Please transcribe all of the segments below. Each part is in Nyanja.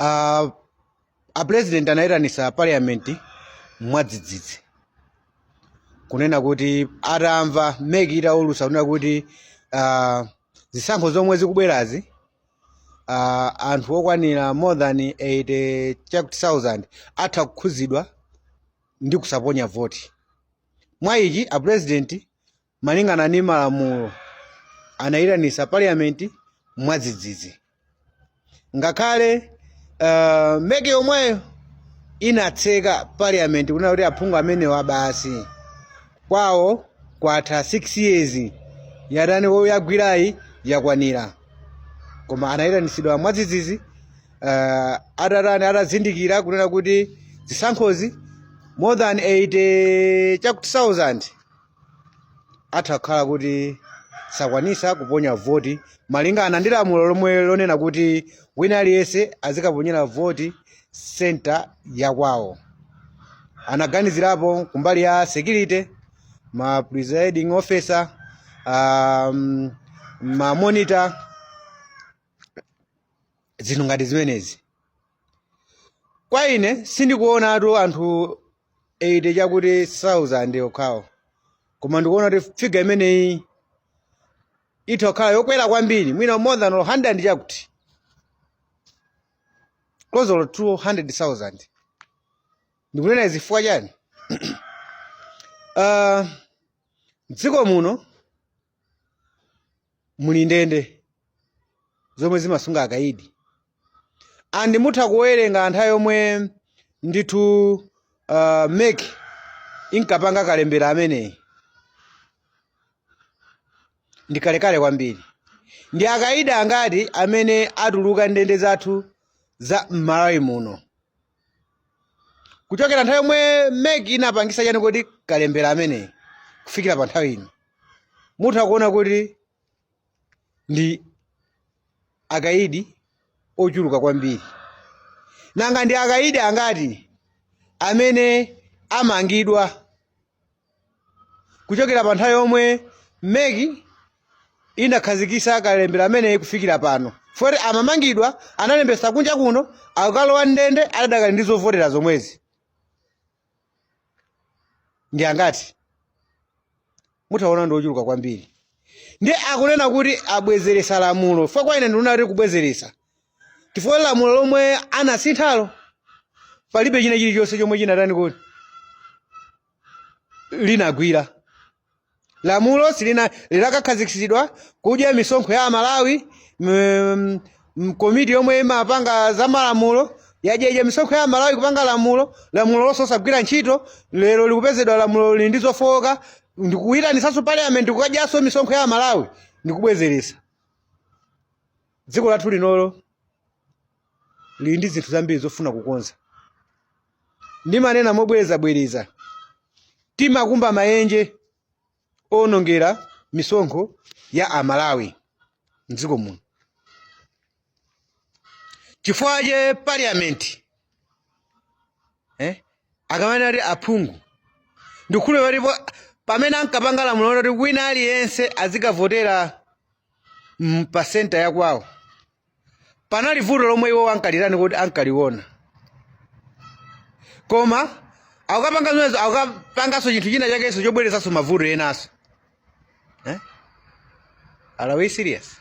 uh, a president anayitanisa parliament mwadzidzidzi kunena kuti atamva MEC itaulusa kunena kuti uh, zisankho zomwe zikubwerazi uh, anthu okwanira more than 80,000 atha kukhuzidwa ndi kusaponya voti mwa ichi a president Malingana ndi malamulo, anayitanisa parliament mwadzidzidzi. Ngakhale uh, MEC yomweyo inatseka parliament kunena kuti aphungu amenewa basi kwawo kwatha 6 years yatani yagwirayi yakwanira koma anayitanisidwa mwadzidzidzi uh, atatani atazindikira kunena kuti zisankhozi more than 80 chakuti 1000 atha kukhala kuti sakwanisa kuponya voti malingana ndi lamulo lomwe lonena kuti wina aliyense azikaponyera voti senta yakwawo anaganizirapo kumbali ya security ma presiding officer um, ma monitor zinthu ngati zimenezi kwa ine sindikuonatu anthu 80 chakuti 1000 okhawo koma ndikuona kuti figa imeneyi itha kukhala yokwera kwambiri mwina more than 100 chakuti close to 200000 ndikunena izi chifukwa chani uh, mdziko muno muli ndende zomwe zimasunga akaidi and mutha kuwerenga nthawi yomwe ndithu uh, MEC inkapanga kalembera ameneyi ndi kalekale kwambiri ndi akaidi angati amene atuluka mndende zathu za mmalawi muno kuchokera nthawi yomwe mec inapangisa chani kodi kalembera ameneyi kufikira pa nthawi ino mutha kuona kuti ndi akaidi ochuluka kwambiri nanga ndi akaidi angati amene amangidwa kuchokera pa nthawi yomwe mec inakhazikisa kalembera ameneyi kufikira pano poti amamangidwa analembesa kunja kuno akukalowa mndende adadakali ndi zovotera zomwezi ndi angati mutha kuona ndi ochuluka kwambiri ndiye akunena kuti abwezeresa lamulo fo kwa ine ndikuona kuti kubwezeresa chifukwa lamulo lomwe anasinthalo palibe china chilichonse chomwe chinatani kodi linagwira lamulo lija linakakhazikitsidwa kudya misonkho ya amalawi mm, mm, komiti yomwe imapanga za malamulo yadya misonkho ya amalawi kupanga lamulo lamulo losagwira ntchito lero likupezedwa lamulo lili ndi zofowoka ndikuyitanitsanso parliament kukadyanso misonkho ya amalawi ndikubwezeretsa Dziko lathu linolo lili ndi zinthu zambiri zofuna kukonza. Ndimanena mobwerezabwereza, timakumba maenje owonongera misonkho ya Amalawi m'dziko muno. Chifukwa chake parliament eh, akamanena kuti aphungu ndikukhulupirira kuti pamene ankapanga lamulo loti wina aliyense azikavotera mm, pa senta ya kwawo panali vuto lomwe iwo ankalitani kodi ankaliona koma akukapanga zimenezo akukapanganso chinthu china chakenso chobweresanso mavuto enanso eh? are we serious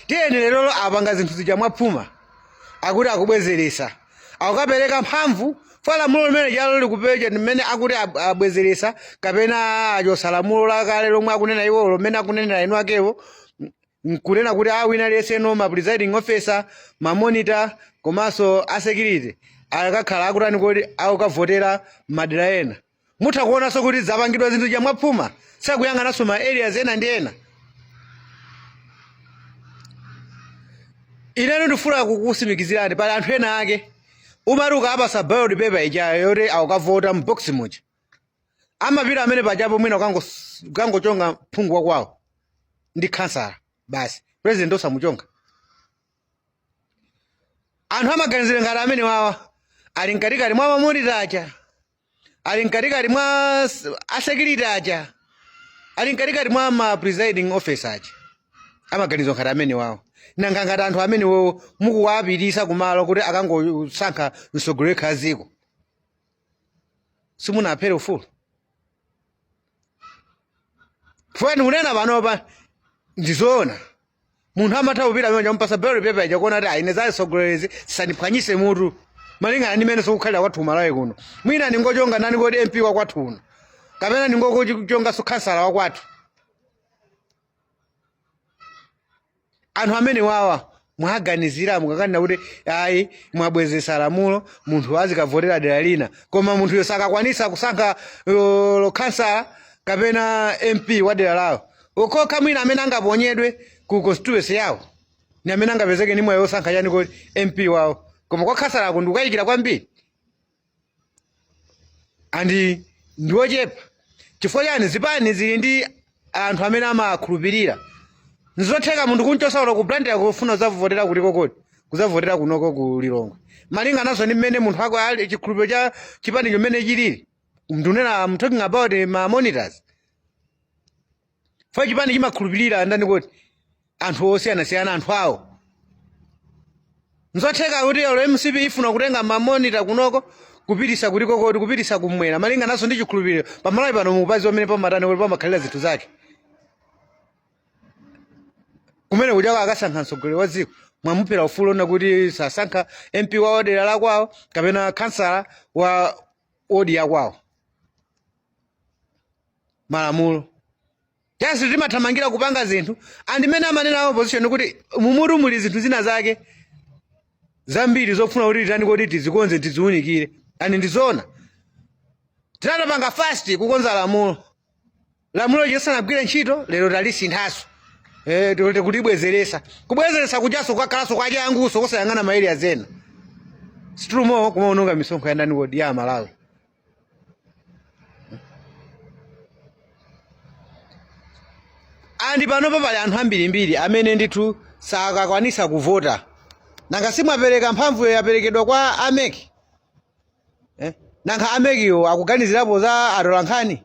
tiyeni lero apanga zinthu zija mwaphuma akuti akubwezeresa akukapereka mphamvu kwa lamulo limene lijalo likupereka mmene akuti ab- abwezeretsa kapena achosa lamulo lakale lomwe akunena iwolo mmene akunenera inu akewa m- nkunena kuti wina aliyenseno ma presiding officer ma monitor komanso a security akakhala akutani kodi akukavotera madera ena mutha kuonanso kuti zapangidwa zinthu zija mwaphuma sakuyang'ananso ma areas ena ndi ena ineno ndifuna kukusimikizirani pali anthu ena ake umati ukapasa ballot paper ija yoti akukavota mbox muja amapita amene pajapo mwina ukango- ukangochonga phungu wakwawo ndi khansala basi president osamuchonga anthu amaganizira ngati amene wawa ali mkatikati mwa ma monitor aja ali mkatikati mwa s- asekiriti aja ali mkatikati mwa ma presiding officer aja amaganizo ngati amene wawo nanga ngati anthu amene wowo mukuwapitisa kumalo kuti akangosankha mtsogoleri wa dziko simunaphere ufulu fwe ndikunena panopa ndizoona munthu amatha kupita mmene ampasa ballot paper ija kuona kuti aa ine za atsogolerezi zisandiphwanyise mutu malingana ndi mmene zikukhalira kwathu kumalawi kuno mwina ndingochonga nani kodi mp wakwathu uno kapena ndingokachongaso khansala wakwathu anthu amene awawa mwaganizira mukakanena kuti ayi mwabwezesa lamulo munthu azikavotera dera lina koma munthuyo sakakwanisa kusankha lo- lokhansala kapena mp wa dera lawo okokha mwina amene angaponyedwe ku constituency yawo ni amene angapezeke ni mwayi wosankha chani koti mp wawo koma kwa khansalaku ndikukayikira kwambiri and ndiwochepa chifukwa chani zipani zili ndi anthu amene amakhulupirira nzotheka munthu kunchosa uko ku Blantyre kufuna kuzavotera kutiko koti kuzavotera kunoko ku lilongwe malinga nazo ndi mmene munthu wako ali chikhulupiriro cha chipani chimene chilili ndunena I'm talking about ma monitors chifukwa chipani chimakhulupirira ndani koti anthu osiyanasiyana anthu awo nzotheka kuti olo mcp ifuna kutenga mamonita kunoko kupitisa kutiko koti kupitisa kumwera malinga nazo ndi chikhulupiriro pamalawi pano mukudziwa mmene pamatani koti pamakhalira zinthu zake kumene kujako akasankha mtsogoleri wa dziko mwamuphera ufulu wonena kuti sasankha mp wa dera lakwawo kapena khansala wa wodi ya kwawo malamulo tese timathamangira kupanga zinthu and mmene amanena a opposition kuti mumutu muli zinthu zina zake zambiri zofuna kuti titani koti tizikonze tiziunikire and ndizoona tinatapanga fast kukonza lamulo lamulo lisanagwire ntchito lero talisinthaso eh, tote kulibwezeresa kubwezeresa kujaso kwakhalanso kwa changuso kusayang'ana ma area ena si tulumo kumaononga misonkho ya ndani koti a malawi and panopo pali anthu ambirimbiri amene ndithu sakakwanisa kuvota nanga simwapereka mphamvuyo yaperekedwa kwa a mec eh? nanga a mec-wo akuganizirapo za atolankhani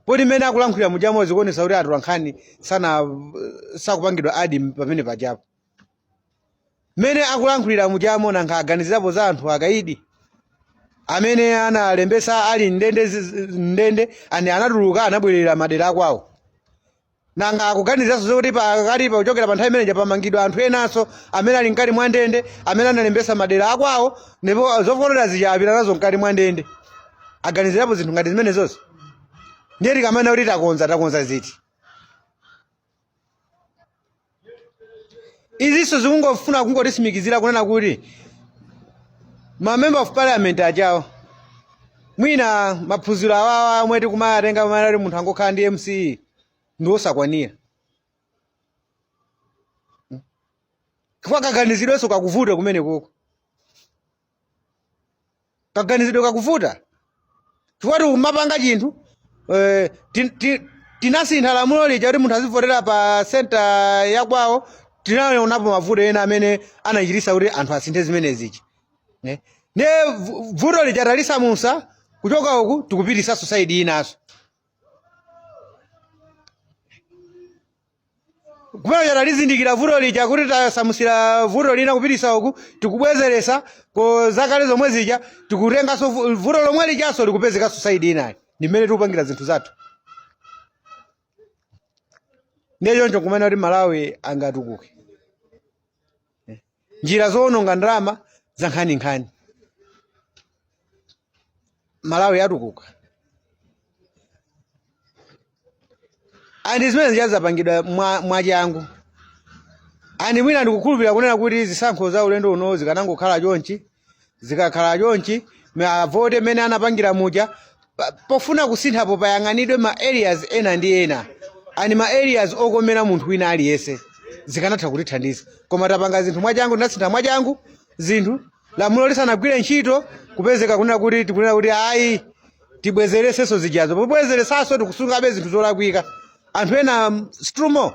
poti mmene akulankhulira mujamo zikuonesa kuti atolankhani sana sakupangidwa add pamene pajapo mmene akulankhulira mujamo nanga aganizirapo za anthu akaidi amene analembesa ali m'ndende ziz- m'ndende ena anatuluka anabwerera madera akwawo nanga akuganiziranso zokuti pakatipa kuchokera pa nthawi imeneja pamangidwa anthu enanso amene ali mkati mwa ndende amene analembesa madera akwawo ndipo zovotera zija apita nazo mkati mwa ndende aganizirapo zinthu ngati zimenezozi ndiye tikamanena kuti takonza takonza ziti izinso zikungofuna kungotisimikizira kunena kuti ma member of parliament ajawo mwina maphunziro awawa omwe tikumawatenga amene ati munthu angokhala ndi msce ndi osakwanira chifukwa kaganizidwenso kakuvuta kumenekoko kaganizidwe kakuvuta chifukwa tikumapanga chinthu eh, ti- ti- tinasintha lamulo lija kuti munthu azivotera pa senta yakwawo tinaonapo mavuto ena amene anachitisa kuti anthu asinthe zimenezichi ne ne vu- vuto lija talisamutsa kuchoka uku tikupititsa saidi inanso kumene talizindikira vuto lija kuti tasamutsira vuto lina kupititsa uku tikubwezeretsako zakale zomwe zija tikutenganso vu- vuto lomwe lijanso likupezekanso saidi inayo ndi mmene tikupangira zinthu zathu ndiye choncho n'kumanena kuti malawi angatukuke njira zowononga ndalama zankhaninkhani malawi yatukuka andi zimenezija zapangidwa mwa- mwachangu andi mwina ndikukhulupirira kunena kuti zisankho za ulendo uno zikanangokhala chonchi zikakhala chonchi ma- avote mmene anapangira muja pa- pofuna kusinthapo kayang'anidwe ma areas ena ndi ena andi ma areas okomera munthu wina aliyense zikanatha kutithandiza koma tapanga zinthu mwachangu tinasintha mwachangu zinthu lamulo lisanagwire ntchito kupezeka kunena kuti tikunena kuti ayi tibwezeretsenso zijazo pobwezeretsanso tikusungabe zinthu zolakwika anthu ena mm, strumo